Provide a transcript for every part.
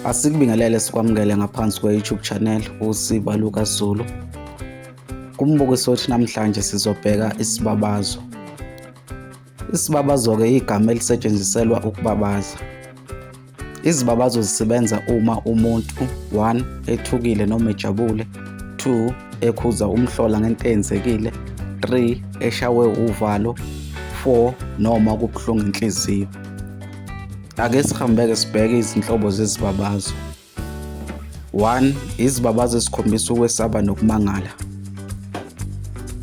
Asikubingelele sikwamukele ngaphansi kwe-YouTube channel uSiba Luka Zulu. Kumbukiso wethu namhlanje sizobheka isibabazo. Isibabazo-ke yigama elisetshenziselwa ukubabaza. Izibabazo zisebenza uma umuntu 1 ethukile noma ejabule, 2 ekhuza umhlola ngento eyenzekile, 3 eshawe uvalo, 4 noma kubuhlungu inhliziyo. Ake sihambeke sibheke izinhlobo zezibabazo. 1. Izibabazo ezikhombisa ukwesaba nokumangala.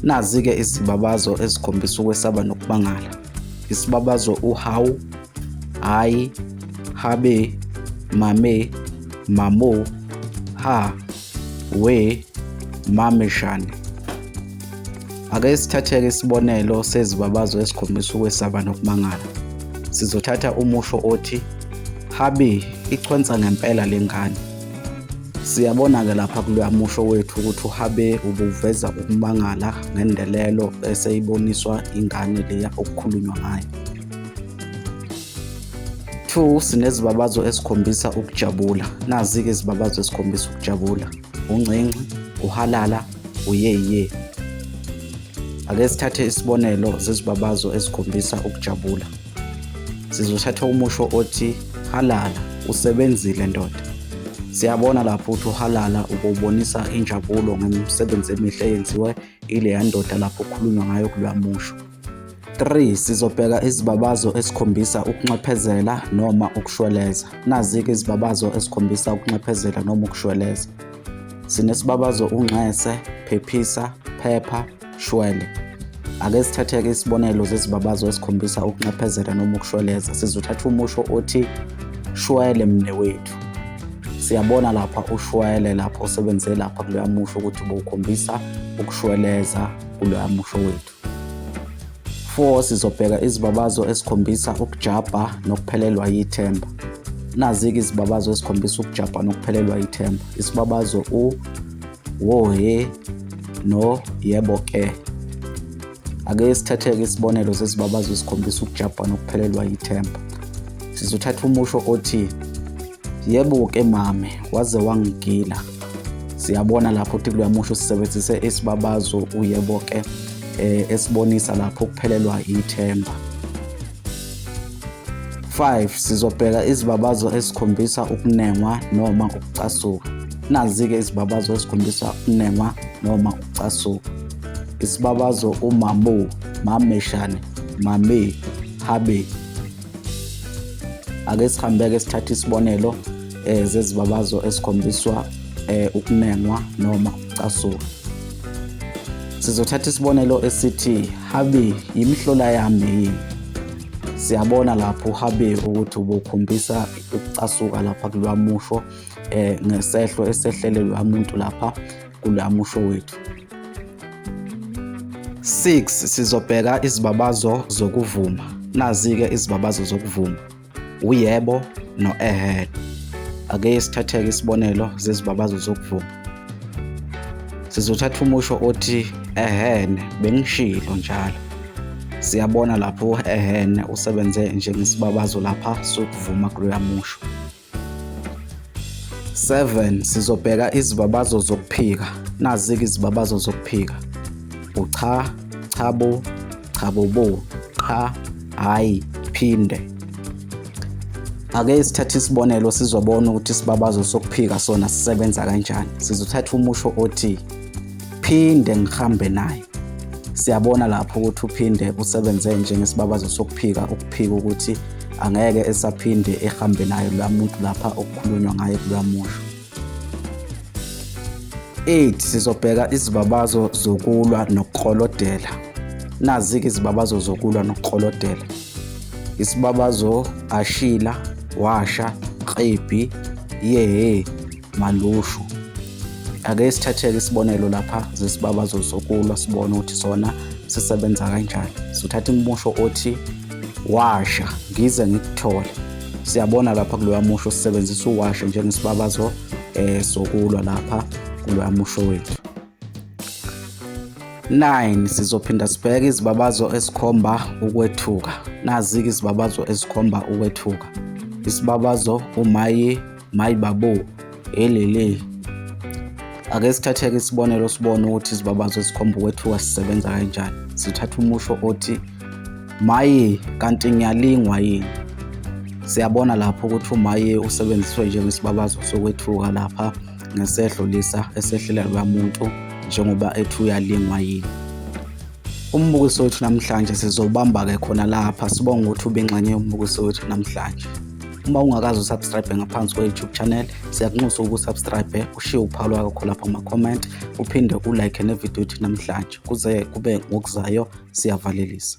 Nazi-ke izibabazo ezikhombisa ukwesaba nokumangala. Isibabazo uhawu, hayi, habe, mame, mamo, ha, we, mameshane. Ake sithatheke isibonelo sezibabazo esikhombisa ukwesaba nokumangala. Sizothatha umusho othi habi ichwensa ngempela lengane. Siyabona ke lapha kuloya musho wethu ukuthi uhabe ubuveza ukumangala ngendelelo eseyiboniswa ingane leya okukhulunywa ngayo. 2 sinezibabazo esikhombisa ukujabula. Nazi ke izibabazo esikhombisa ukujabula. uncinci uhalala uyeye ake sithathe isibonelo zezibabazo ezikhombisa ukujabula sizothatha umusho othi halala usebenzile ndoda siyabona lapho ukuthi uhalala ukubonisa injabulo ngemisebenzi emihle eyenziwe ileya ndoda lapho kukhulunywa ngayo kuloya musho 3 sizobheka izibabazo esikhombisa ukunxephezela noma ukushweleza nazi-ke izibabazo esikhombisa ukunxephezela noma ukushweleza sinesibabazo unxese phephisa phepha shwele ake sithathe-ke isibonelo zezibabazo esikhombisa ukunxephezela noma ukushweleza sizothatha umusho othi shwele mne wethu siyabona lapha ushwele lapha osebenzele lapha kuloya musho ukuthi bowukhombisa ukushweleza kuloya musho wethu 4 sizobheka izibabazo esikhombisa ukujabha nokuphelelwa yithemba nazi-ke izibabazo esikhombisa ukujabha nokuphelelwa yithemba isibabazo u wohe no yebo ke ake sithathe-ke isibonelo sezibabazo esikhombisa ukujabha nokuphelelwa yithemba sizothatha umusho othi Yebo ke mame, waze wangigila. Siyabona lapho ukuthi kuyamusho sisebenzise isibabazo uyebo ke eh, esibonisa lapho ukuphelelwa ithemba. 5 sizobheka izibabazo esikhombisa ukunengwa noma ukucasuka. Nazi-ke izibabazo esikhombisa ukunengwa noma ukucasuka. Isibabazo umamo, mameshane, mame, habe, ake sihambeke sithathe isibonelo eh zezibabazo esikhombiswa eh ukunengwa noma ucasuka sizothatha isibonelo esithi habi yimihlola yami yini siyabona lapho uhabi ukuthi ubukhombisa ukucasuka lapha kulwamusho eh ngesehlo esehlele lwamuntu lapha kula musho wethu. 6 sizobheka izibabazo zokuvuma. Nazi-ke izibabazo zokuvuma. Uyebo no-ehhe. Ake sithatheke isibonelo zezibabazo zokuvuma. Sizothatha umusho othi ehhene bengishilo njalo. Siyabona lapho ehhene usebenze njengesibabazo lapha sokuvuma kuloya musho. 7 sizobheka izibabazo zokuphika nazike izibabazo zokuphika ucha chabo chabobo qha hayi phinde ake sithathe isibonelo sizobona ukuthi isibabazo sokuphika sona sisebenza kanjani sizothatha umusho othi phinde ngihambe naye siyabona lapho ukuthi uphinde usebenze njengesibabazo sokuphika ukuphika ukuthi angeke esaphinde ehambe nayo la muntu lapha okukhulunywa ngaye kula musho 8 sizobheka izibabazo zokulwa nokukolodela nazi-ke izibabazo zokulwa nokukolodela isibabazo ashila washa qebhi yehe malushu ake sithatheke isibonelo lapha zesibaba zosokulwa sibone ukuthi sona sisebenza kanjani sithatha imusho othi washa ngize ngikuthole siyabona lapha kuloya musho sisebenzisa uwasha njengesibabazo eh sokulwa lapha kuloya musho wethu 9 sizophinda sibheke izibabazo esikhomba ukwethuka nazi-ke izibabazo esikhomba ukwethuka isibabazo umaye mayi babo elele ake sithatheke isibonelo sibone ukuthi izibabazo zikhomba ukwethuka sisebenza kanjani sithatha umusho othi maye kanti ngiyalingwa yini siyabona lapho ukuthi umaye usebenziswe njengesibabazo sokwethuka lapha ngesehlo lisa esehlela lwamuntu njengoba ethi uyalingwa yini umbukiso wethu namhlanje sizobamba-ke khona lapha sibonga ukuthi ubengxenye yombukiso wethu namhlanje uma ungakazi usubscribe ngaphansi kwe-youtube channel siyakunxusa ukusubscribe ushiye uphawu lwakho kho lapha kuma-comment uphinde ulike nevidiyo ithi namhlanje kuze kube ngokuzayo siyavalelisa